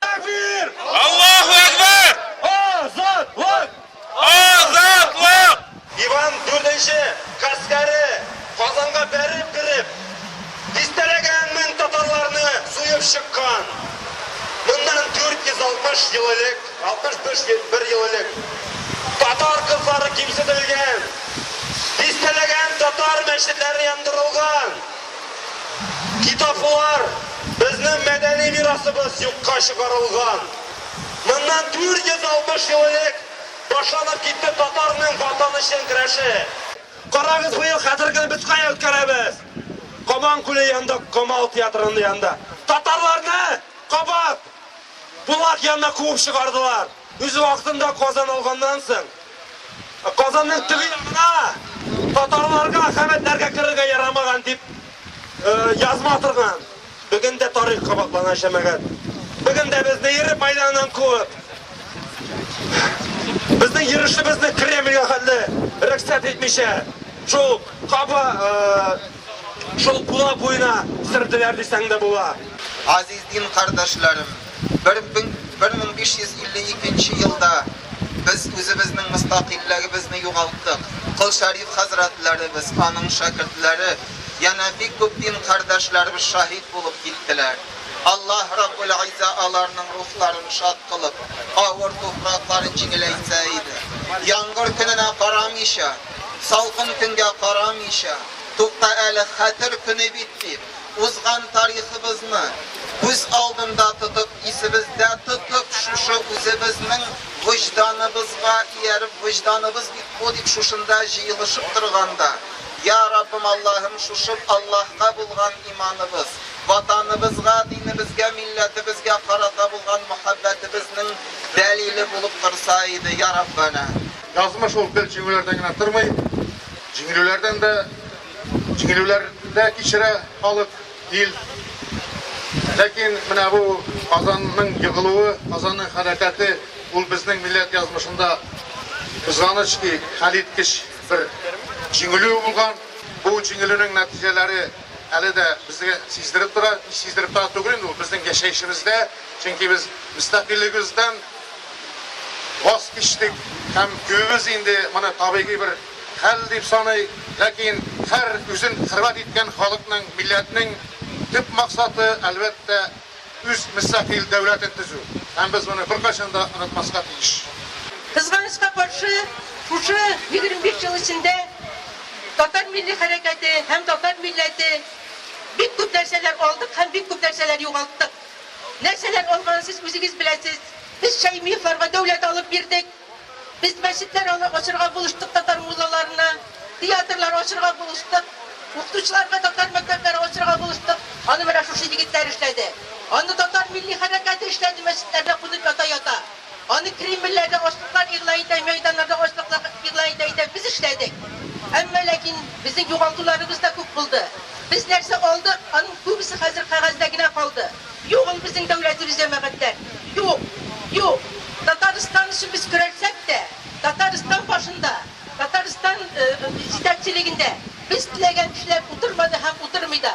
Тәкбир! Аллаһу әкбәр! Азатлык! Азатлык! Иван дүртенче гаскәре Казанга бәреп кереп, дистәләгән мең татарларны суеп чыккан. Моннан 460 ел элек, 61 ел элек, татар кызлары кимсетелгән, дистәләгән татар мәчетләре яндырылган. Китаплар, безнең мәдәни мирасыбыз юкка чыгарылган. Моннан 460 ел элек башланып китте татарның Ватан өчен көрәше. Карагыз, быел хәзерге көнне без кая үткәрәбез? Кабан күле янында Камал театры янында татарларны кабат! Булат янына куып чыгардылар. Үз вакытында Казан алганнан соң, Казанның теге ягына, татарларга, ахәмәтләргә керергә ярамаган дип язма торган. Бүген дә тарих кабатлана, җәмәгать. Бүген дә безне Ирек мәйданыннан куып, безнең йөрешебезне Кремльгә хәтле рөхсәт итмичә, шул каба, Шул Кула буена сөрделәр дисәң дә була. Азиз дин кардәшләрем, бер мең биш йөз илле икенче елда без үзебезнең мөстәкыйльлегебезне югалттык. Кол Шәриф хәзрәтләребез, аның шәкертләре, янә бик күп дин кардәшләребез шаһит булып киттеләр. Аллаһ Раббул-Изза аларның рухларын шат кылып, авыр туфракларын җиңеләйтсә иде. Яңгыр көненә карамыйча. Салкын көнгә карамыйча, тукта әле, Хәтер көне бит, дип, узган тарихыбызны күз алдында тотып, исебездә тотып, шушы үзебезнең вөҗданыбызга ияреп, вөҗданыбыз бит бу, дип шушында җыелышып торганда, Йа Раббым, Аллаһым, шушы Аллаһка булган иманыбыз, Ватаныбызга, динебезгә, милләтебезгә карата булган мәхәббәтебезнең дәлиле булып торса иде, Йа Раббәнә! Язмыш ул гел җиңүләрдән генә тормый, җиңелүләрдән дә, җиңелүләр дә кичерә халык, ил. Ләкин менә бу Казанның егылуы, Казанның хәрәкәте, ул безнең милләт язмышында, кызганыч ки, хәлиткеч бер җиңелү булган. Бу җиңелүнең нәтиҗәләре әле дә безгә сиздереп тора, сиздереп тора түгел инде, ул безнең яшәешебездә. Чөнки без мөстәкыйльлегебездән ваз кичтек һәм күбебез инде моны табигый бер хәл дип саный. Ләкин һәр үзен хөрмәт иткән халыкның, милләтнең төп максаты, әлбәттә, үз мөстәкыйль дәүләтен төзү. Һәм без моны беркайчан да онытмаска тиеш. Кызганычка каршы, шушы егерме биш ел эчендә татар милли хәрәкәте һәм татар милләте бик күп нәрсәләр алдык һәм бик күп нәрсәләр югалттык. Нәрсәләр алганын сез үзегез беләсез. Без Шәймиевларга дәүләт алып бирдек. Без мәчетләр ачырга булыштык татар муллаларына, театрлар ачырга булыштык, укытучыларга татар мәктәпләре ачырга булыштык. Аны менә шушы егетләр эшләде. Аны татар милли хәрәкәте эшләде мәчетләрдә кунып ята-ята. Аны Кремльләрдә ачлыклар игълан итә, мәйданнарда ачлыклар игълан итә итә без эшләдек. Әмма ләкин безнең югалтуларыбыз да күп булды. Без нәрсә алдык, аның күбесе хәзер кәгазьдә генә калды. Юк ул безнең дәүләтебез җәмәгатьләр. Юк! Юк! Татарстан өчен без көрәлсәк тә, Татарстан башында, Татарстан җитәкчелегендә без теләгән кешеләр утырмады һәм утырмый да.